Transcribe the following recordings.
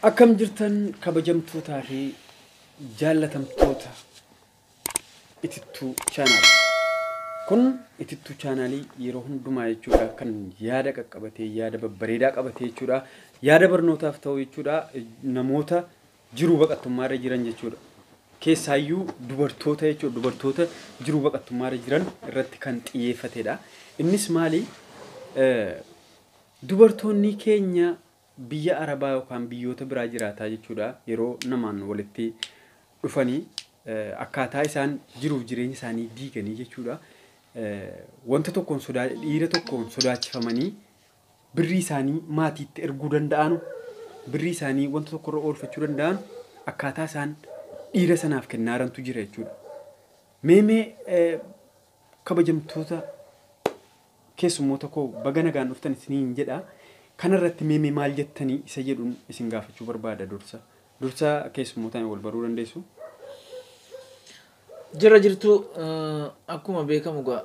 Akkam jirtan kabajamtootaa fi jaallatamtoota itittuu chaanaal. Kun itittuu chaanaalii yeroo hundumaa jechuudha kan yaada qaqqabatee yaada babbareedaa qabatee jechuudha. Yaada barnootaaf ta'u jechuudha namoota jiruu baqattummaa irra jiran jechuudha. Keessaayyuu dubartoota jechuudha dubartoota jiruu baqattummaa irra jiran irratti kan xiyyeeffatedha. Innis maali? Dubartoonnii keenya biyya arabaa yookaan biyyoota biraa jiraataa jechuudha yeroo namaan walitti dhufanii akkaataa isaan jiruuf jireenya isaanii diiganii jechuudha wanta tokkoon sodaa dhiira tokkoon sodaachifamanii birrii isaanii maatiitti erguu danda'anu birrii isaanii wanta tokkorra oolfachuu danda'an akkaataa isaan dhiira sanaaf kennaarantu jira jechuudha. Mee mee eh, kabajamtoota Keessummoota koo baga nagaan dhuftan isiniin jedha. Kana irratti mee mee maal jettanii isa jedhun isin gaafachuu barbaada dursa. Dursa keessummootaan wal baruu dandeessu. Jirra jirtuu akkuma beekamu egaa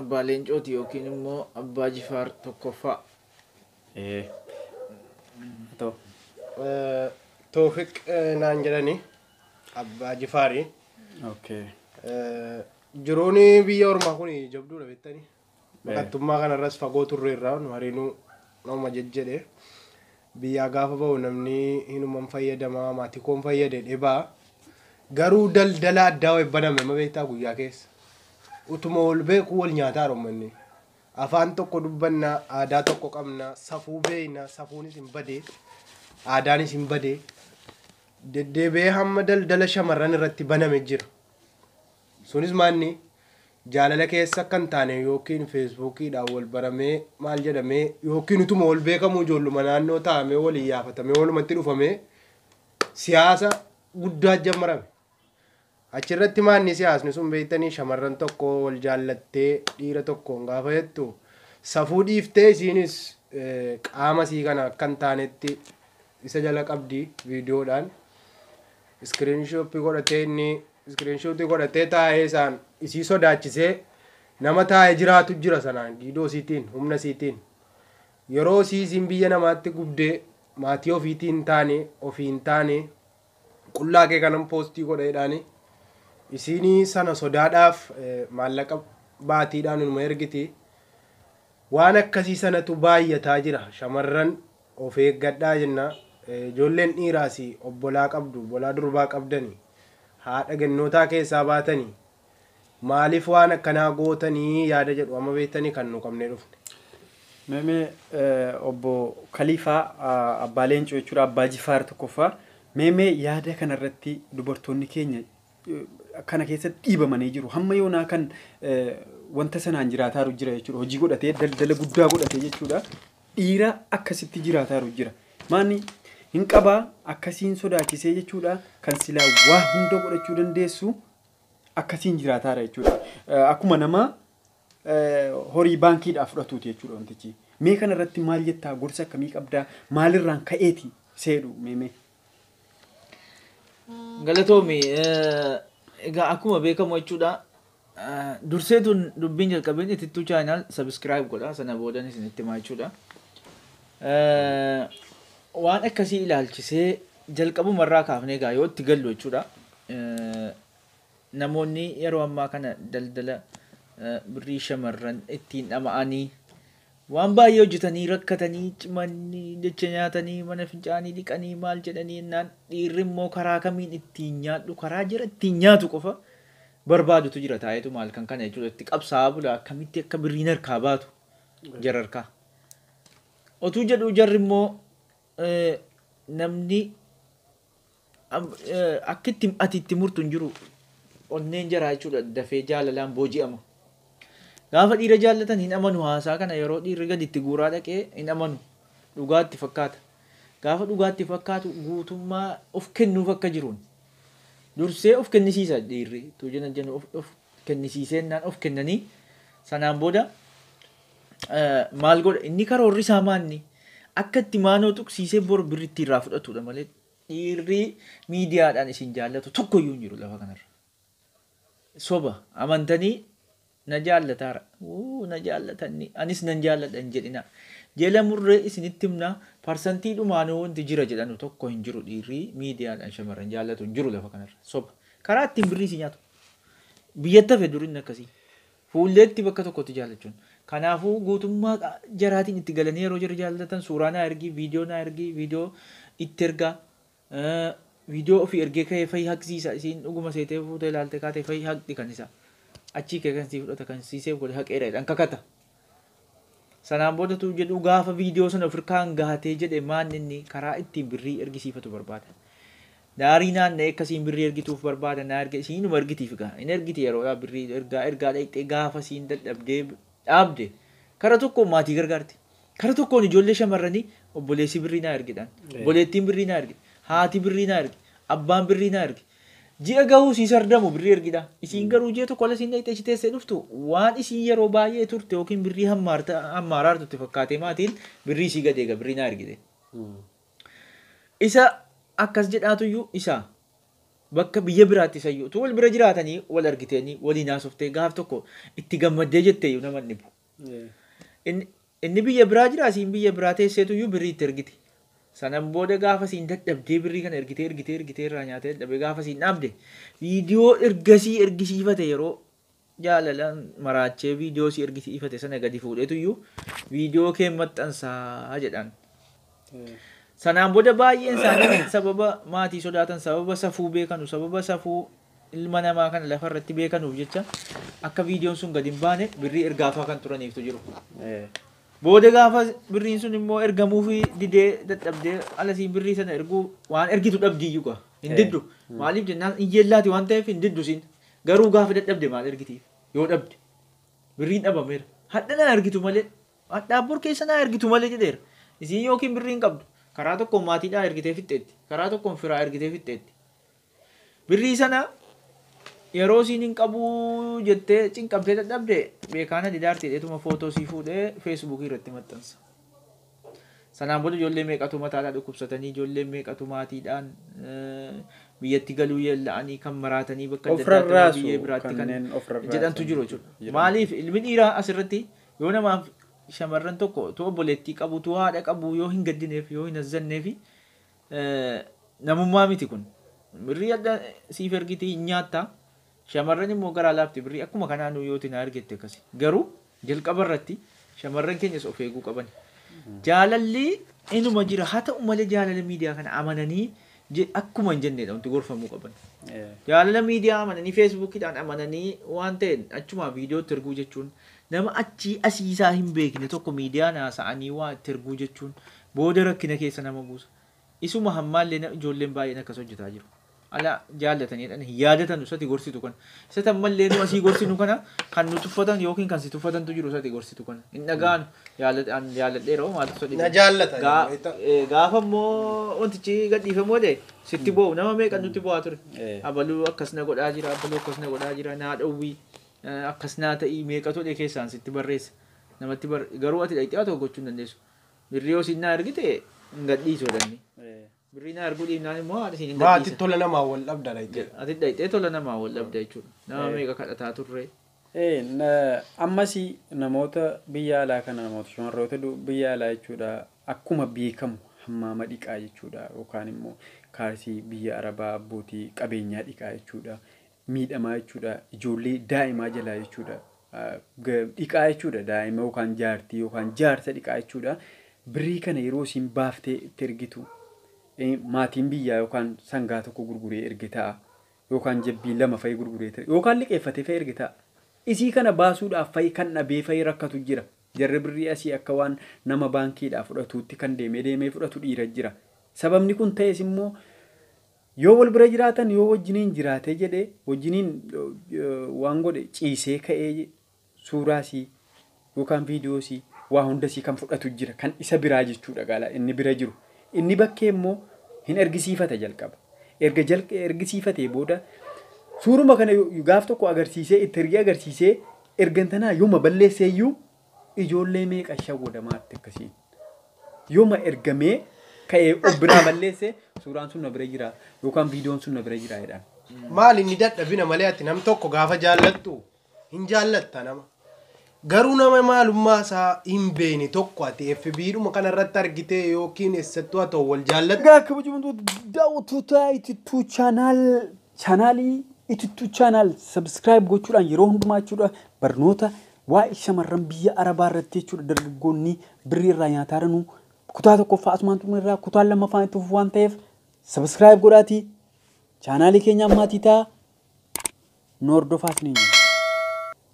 Abbaa Leencooti yookiin immoo Abbaa Jifaar tokkoffaa. Ee. Atoo. Toofiq naan jedhani Abbaa Jifaari. Okay. Jiruun biyya ormaa kun jabduudha beektanii. Baqattummaa kanarras fagoo turreerraa nu hariinuu nama jejjedhe. Biyyaa gaafa ba'u namni hinuman fayyadamaa maatikoon fayyade dhibaa. Garuu daldala addaa wayi baname ma beektaa guyyaa keessa. Utuma wal beekuu wal nyaataa rommanni. Afaan tokko dubbannaa, aadaa tokko qabnaa, safuu beekna, safuunis hin badee, aadaanis hin badee. Deddeebi'ee hamma daldala shamarran irratti baname jira. Sunis maanni jaalala keessa akka hin taane yookiin feesbuukiidhaan wal baramee maal jedhamee yookiin utuma wal beekamuu ijoolluma naannoo taa'amee wal iyyaafatamee walumatti dhufamee siyaasa guddaa jammarame. Achirratti maanni siyaasni sun beektanii shamarran tokko wal jaallattee dhiira tokkoon gaafa jettu safuu dhiiftee isiinis eh, qaama sii kana akka hin taanetti isa jala qabdi viidiyoodhaan. Screenshop godhatee inni screenshot godhatee taa'ee isaan isii sodaachisee nama taa'ee jiraatu jira sanaan giidoo isiitiin humna isiitiin yeroo isii isiin biyya namaatti gubdee maatii ofiitii hin taane ofii hin taane qullaa kee kanan poostii godheedhaani isiinii sana sodaadhaaf eh, maallaqa baatiidhaan inuma ergiti waan akkasii sanatu baay'ataa jira shamarran Of eeggadhaa jenna. Ijoolleen dhiiraas obbolaa qabdu, obbolaa durbaa qabdani, haadha gennootaa keessaa baatani, maaliif waan akkanaa gootani yaada jedhu amma beektani kan nu qabnee dhufne. Mee mee obbo Kaliifaa Abbaa Leencoo jechuudha, Abbaa Jifaar tokkoffaa, mee mee yaada kana irratti dubartoonni keenya kana keessatti dhiibamanii jiru. Hamma yoonaa kan wanta sanaan jiraataaru jira jechuudha. Hojii godhatee daldala guddaa godhatee jechuudha. Dhiira akkasitti jiraataaru jira. Maanni hin qaba akkasiin sodaachisee jechuudha kan silaa waa hunda godhachuu dandeessu akkasiin jiraataara jechuudha. Akkuma nama horii baankiidhaa fudhatuuti jechuudha wantichi. Mee kana irratti maal jettaa gorsa akkamii qabdaa maalirraan ka'eeti seedhu mee mee. Galatoomi. Egaa akkuma beekamu jechuudha. Dursee tun dubbiin jalqabin itittuu chaayinaal sabiskiraayib godha. Sana boodan isin itti himaa jechuudha. Waan akkasii ilaalchisee jalqabuma irraa kaafnee egaa yoo itti gallu jechuudha. Namoonni yeroo ammaa kana daldala birrii shamarran ittiin dhama'anii Waan baay'ee hojjetanii, rakkatanii, cimanii, jecha nyaatanii, mana fincaanii dhiqanii, maal jedhanii ennaan dhiirri immoo karaa kamiin ittiin nyaadhu, karaa jara ittiin nyaatu qofa barbaadutu jira taa'eetuma halkan kana jechuudha itti qabsaa'aa bula akkamitti akka birriin harkaa baatu jara harkaa. Otuu jedhuu jarri immoo namni akkitti ati itti murtu hin jiru onneen jaraa jechuudha dafee jaalalaan booji'ama. Gaafa dhiira jaallatan hin amanu haasaa kana yeroo dhiirri gadi itti guuraa dhaqee hin amanu dhugaatti fakkaata. Gaafa dhugaatti fakkaatu guutummaa of kennuuf akka jiruun dursee of kennisiisa dhiirri tuu jenna jennu of kennisiisee innaan of kennanii sanaan booda maal godha inni karoorri isaa maanni akka itti maanoo tuqsiisee bor birri itti irraa fudhatudha malee dhiirri miidiyaadhaan isin jaallatu tokko iyyuu hin jiru lafa kanarra. Soba amantanii na jaallataara wuu na jaallatanni anis nan jaalladha hin jedhina jela murree isinitti himna parsantii dhumaanuu wanti jira jedhanu tokko hin jiru dhiirri miidiyaadhaan shamarran jaallatu hin jiru lafa kanarra soba karaa ittiin birrii si nyaatu biyyatti hafe durinni akkasii. Fuulleetti bakka tokkotti jaallachuun. Kanaafuu guutummaa jaraatiin itti galanii yeroo jarri jaallatan suuraa naa ergi, viidiyoo naa ergi, viidiyoo itti erga. Viidiyoo ofii ergee ka'ee fayi haqsiisa. Isiin dhuguma seetee fuutee ilaalte kaatee fayi haqxi kan isaa. Achii kee kan sii fudhata kan sii seef godhe haqeera jedhan kakata. Sanaan booda tuu jedhuu gaafa video sana of irkaan gahatee jedhe maan inni karaa ittiin birrii ergisiifatu barbaada. Daarii naanna'ee akka isiin birrii ergituuf barbaada naa erga isiin inuma ergitiif egaa hin ergiti yeroodhaa birrii ergaa ergaa dhayxee gaafa isiin dadhabdee dhaabde kara tokkoon maatii gargaarti kara tokkoon ijoollee shamarranii obboleessi birrii naa ergidhaan obboleettiin birrii naa ergi haati birrii naa ergi abbaan birrii naa ergi Ji'a gahuu sii sardamu birrii ergidha. Isiin garuu ji'a tokko ala siin dhayxee achi teessee dhuftu waan isiin yeroo baay'ee turte yookiin birrii hammaarta hammaaraartu itti fakkaatee maatiin birrii isii gad eega birrii naa ergite. Isa akkas jedhaatuyyuu isa bakka biyya biraatti isayyuu utuu wal bira jiraatanii wal argiteenii waliin haasoftee gaaf tokko itti gammaddee jetteeyyuu nama hin dhibu. Inni biyya biraa jira isiin biyya biraa teesseetuyyuu birrii itti ergiti. Sanan booda gaafa isiin dadhabdee birrii kana ergitee ergitee ergitee irraa nyaatee dadhabee gaafa isiin dhaabde viidiyoo ergasii ergisiifate yeroo jaalalaan maraachee viidiyoo si ergisiifate sana gadi fuudheetuyyuu viidiyoo kee maxxansaa jedhaan. Sanaan booda baay'een isaanii sababa maatii sodaatan sababa safuu beekanu sababa safuu ilma namaa kana lafa irratti beekanuuf jecha akka viidiyoon sun gadi hin baane birrii ergaafaa kan turaniiftu jiru. Booda gaafa birriin sun immoo ergamuufi didee dadhabdee alasiin birrii sana erguu waan ergitu dhabdiyyuu gaa hin Eh. diddu. Maaliif jennaan hin yeellaati waan ta'eef hin diddu siin. Garuu gaafa dadhabde maal ergitiif yoo dhabde birriin dhabameera. Hadha naa ergitu malee hadhaa bor keessa naa ergitu malee jedheera. Isiin yookiin birrii hin qabdu. Karaa tokkoon maatiidhaa ergitee fixxeetti. Karaa tokkoon firaa ergitee fixxeetti. Birrii sana yeroo isiin hin qabu jettee cinqamtee dadhabde Beekaana Didaarti jedheetuma footoo isii fuudhee feesbuukii irratti maxxansa. Sanaan booda ijoollee meeqatu mataadhaa dhukkubsatanii, ijoolleen meeqatu maatiidhaan biyyatti galuu yeella'anii kan maraatanii bakka adda Of addaatti nama rarraasu biyyee biraatti kan kanneen of rarraasan jedhantu jiru jechuudha. jedhamu. Maaliif ilmi dhiiraa asirratti yoo namaaf shamarran tokko utuu obboleettii qabu, utuu haadha qabu yoo hin gaddineef, yoo hin azzanneefi Namummaa miti kun. Birrii adda siif ergiti hin nyaatta. Shamarran immoo garaa laafti birrii akkuma kanaa nuu yooti naa ergette akkasi. Garuu jalqaba irratti shamarran keenyas of eeguu qabani. Jaalalli inuma jira haa ta'u malee jaalala miidiyaa kana amananii je- akkuma hin jennedha wanti gorfamuu qaban. Jaalala miidiyaa amananii feesbuukiidhaan amananii waan ta'een achumaa viidiyootti erguu jechuun Nama achii asii isaa hin beekne tokko miidiyaan haasa'anii waa itti erguu jechuun booda rakkina keessa nama buusa. Isuma hammaallee na ijoolleen baay'een akkas hojjetaa jiru. Ala jaallatanii jedhanii hin yaadatanu isati gorsitu kana. Isati ammallee nu asii gorsinu kana kan nu tuffatan yookiin kan si tuffatantu jiru isati gorsitu kana. Hin dhaga'anu. Yaallat- an Yaalladheera hoo maaltu isa dhibe? Na jaallata Gaa- jedhu beektaa? ee, Gaafa immoo wantichi gadhiifamuu ta'e sitti boo'u. Nama meeqan nutti boo'aa ture? Ee. Abaluu akkas na godhaa jira, abaluu akkas na godhaa jira, naa dhowwii. akkas naa ta'ii meeqatu jedhee keessaan sitti barreessa namatti bar garuu ati dhaqxee waa tokko gochuu hin dandeessu birrii yoo siin naa ergite hin gadhiisu jedhanni birrii naa erguu dhiibnaan immoo haadha siin hin Maa ati gadhiisa tola namaa wal dhabda dhaqxee. ati dhaqxee tola namaa wal dhabda jechuudha nama meeqa kadhataa turre Ee, na- ammas namoota biyya alaa kana namoota shamarroota du- biyya alaa jechuudha akkuma beekamu hammaama dhiqaa jechuudha yookaan immoo kaarsii biyya arabaa abbootii qabeenyaa dhiqaa jechuudha miidhamaa jechuudha. Ijoollee daa'imaa jalaa jechuudha. Dhiqaa jechuudha daa'ima yookaan jaartii yookaan jaarsa dhiqaa jechuudha. Birrii kana yeroo isin baaftee itti ergitu maatiin biyyaa yookaan sangaa tokko gurguree erge ta'a. Yookaan jabbii lama fa'i gurguree ta'a. Yookaan liqeeffatee fa'i erge ta'a. Isii kana baasuudhaaf fa'i kan dhabee fa'i rakkatu jira. Jarri birrii asii akka waan nama baankiidhaa fudhatuutti kan deemee deemee fudhatu dhiira jira. Sababni kun ta'es immoo Yoo wal bira jiraatan yoo wajjiniin jiraatee jedhee wajjiniin waan godhe ciisee ka'ee suuraa sii yookaan viidiyoo sii waa hunda sii kan fudhatu jira kan isa biraa jechuudha gaala inni bira jiru inni bakkee immoo hin ergisiifata jalqaba erga jalqa ergisiifatee booda suuruma kana gaaf tokko agarsiisee itti ergee agarsiisee ergantanaa yooma balleesseeyyuu Ijoollee meeqa shawwadamaa atti akkasiin. Yoma erga mee ka'ee of biraa balleesse suuraan sun na bira jira yookaan viidiyoon sun na bira jira jedhan. Maal inni dadhabina malee ati nam tokko gaafa jaallattu hin jaallatta nama. Garuu nama maalummaa isaa hin beekne tokko ati FB'dhuma kana irratti argitee yookiin eessattuu haa ta'u wal jaallattu. Egaa kabajamtoota daawwattoota Itittuu chaanaal Chaanaalii Itittuu Chaanaal subscribe gochuudhaan yeroo hundumaa jechuudha barnoota waa'ee shamarran biyya Arabaa irratti jechuudha dargaggoonni birrii irraa nyaataa jiranuu kutaa tokkoffaa asumaan xumurre irraa kutaan lammaffaan itti fufu waan ta'eef subscribe godhaatii chaanaalii keenyaan maatii ta'a nu hordofaa isiniin jenna.